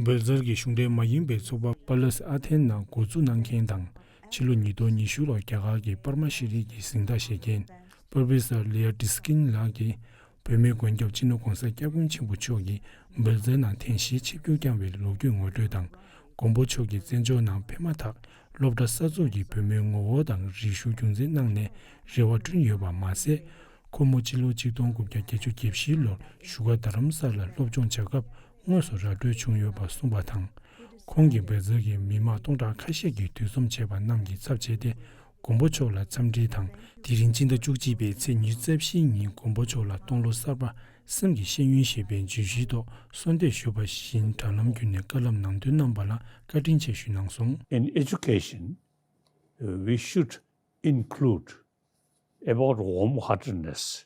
འབོད་རྩར་གྱི་གཞུང་འབྲེལ་མ་ཡིན་པའི་ཚོགས་པ་པཱ་ལཱས་ཨ་ཐེན་ནང་འགོ་འཛུགས་གནང་མཁན་དང་ཕྱི་ལོ་ཉིས་སྟོང་ཉི་ཤུ་ལོར་རྒྱ་གར་གྱི་པར་མ་ཤེས་རིག་གི་གཟེངས་རྟགས་བཞེས་མཁན་པར་བྷི་སར་ལི་ཡ་ཏི་སི་ཀིན་ལགས་ཀྱིས་བོད་མིའི་མགོན་སྐྱབས་སྤྱི་ནོར ྋགོང་ས ྋསྐྱབས་མགོན་ཆེན་པོ་མཆོག་གི་འབོད་རྩའི་ནང་ཐེངས་བཞིའི་ཆིབས་བསྒྱུར་བསྐྱངས་བའི་ལོ་རྒྱུས་ངོ་སྤྲོད་དང་མགོན་པོ་མཆོག་གི་བཙན་བྱོལ་ནང་ཕེབས་མ་ཐག་སློབ་གྲྭ་གསར་འཛུགས་ཀྱིས་བོད་མིའི་ངོ་བོ་དང་རིག་གཞུང་རྒྱུན་འཛིན་གནང་ནས་རེ་བ་བསྐྲུན་ཡོད་པ་མ་ཟད། ཁོ་མོ་སྤྱི་ལོ་ཆིག་སྟོང་དགུ་བརྒྱ་བརྒྱད་ཅུ་བརྒྱད་བཞི་ལོར་བཞུགས་སྒར་རྡ་རམ་ས་ལར་སློབ་སྦྱོང་བྱ་སྐབས་དངོས་སུ་ར་སྤྲོད་བྱུང་ཡོད་པ་གསུངས་པ་དང། ཁོང་གིས་འབད་རྩོལ་གྱིས་མི་མང་སྟོང་ཕྲག་ཁ་ཤས་ཀྱིས་འདུས་འཛོམས་བྱས་པ་རྣམས་ཀྱི་ཚབ་བྱས་ཏེ་མགོན་པོ་མཆོག་ལ་འཚམས་འདྲི་དང། དེ་རིང་སྤྱི་ཟླ་བཅུ་གཅིག་པའི་ཚེས་ཉེར་རྩ་བཞིའི་ཉིན་མགོན་པོ་མཆོག་ལ་སྟོང་ལོ་གསར་པ་སེམས་ཀྱི་ཤེས་ཡོན་ཞེས་པའི་བརྗོད་གཞིའི་ཐོག་གསོལ་འདེབས་ཞུས་པ་བཞིན་དྲ་ལམ་བརྒྱུད་ནས་བཀའ་སློབ་ནང་དོན་གནང་བ་ལ་བཀའ་དྲིན་ཆེ་ཞུས་གནང་སོང། In education, we should include about warm-heartedness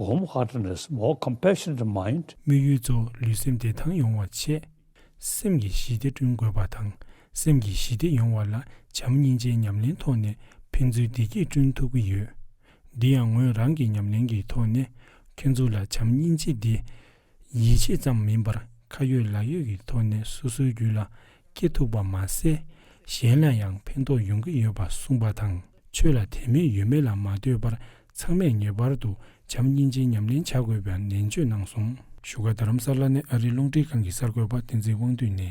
Warm heartedness more compassionate mind། དམིགས་ཡུལ་གཙོ་བོ་ལུས་སེམས་བདེ་ཐང་ཡོང་བ་ཆེད། སེམས་ཀྱི་ཞི་བདེ་བསྐྲུན་དགོས་པ་དང་སེམས་ཀྱི་ཞི་བདེ་ཡོང་བ་ལ་བྱམས་སྙིང་རྗེའི་ཉམས་ལེན་ཐོག་ནས་ཕན་ཚུན་བདེ་སྐྱིད་བསྐྲུན་ཐུབ་ཀྱི་ཡོད། འདི་ཡང་ངོས་རང་གི་ཉམས་ལེན་གྱི་ཐོག་ནས་ཁྱོད་ཚོ་ལ་བྱམས་སྙིང་རྗེ་འདི། ཡིད་ཆེས་ཙམ་མིན་པར་ཁ་ཡོད་ལག་ཡོད་ཀྱི་ཐོག་ནས་སོ་སོའི་རྒྱུད་ལ་སྐྱེ་ཐུབ་པ་མ་ཟད་གཞན་ལ་ཡང་ཕན་ཐོགས་ཡོང་གི་ཡོད་པ་གསུངས་པ་དང་ཆོས་ལ་དད་མོས་ཡོད་མེད་ལ་མ་ལྟོས་པར་ཚང་མས་ངེས་པར་དུ་བྱམས་སྙིང་རྗེའི་ཉམས་ལེན་བྱ་དགོས་པའང་ནན་བརྗོད་གནང་སོང། བཞུགས་སྒར་རྡ་རམ་ས་ལ་ནས་ཨ་རིའི་རླུང་འཕྲིན་ཁང་གི་གསར་འགོད་པ་བསྟན་འཛིན་དབང་འདུས་ནས།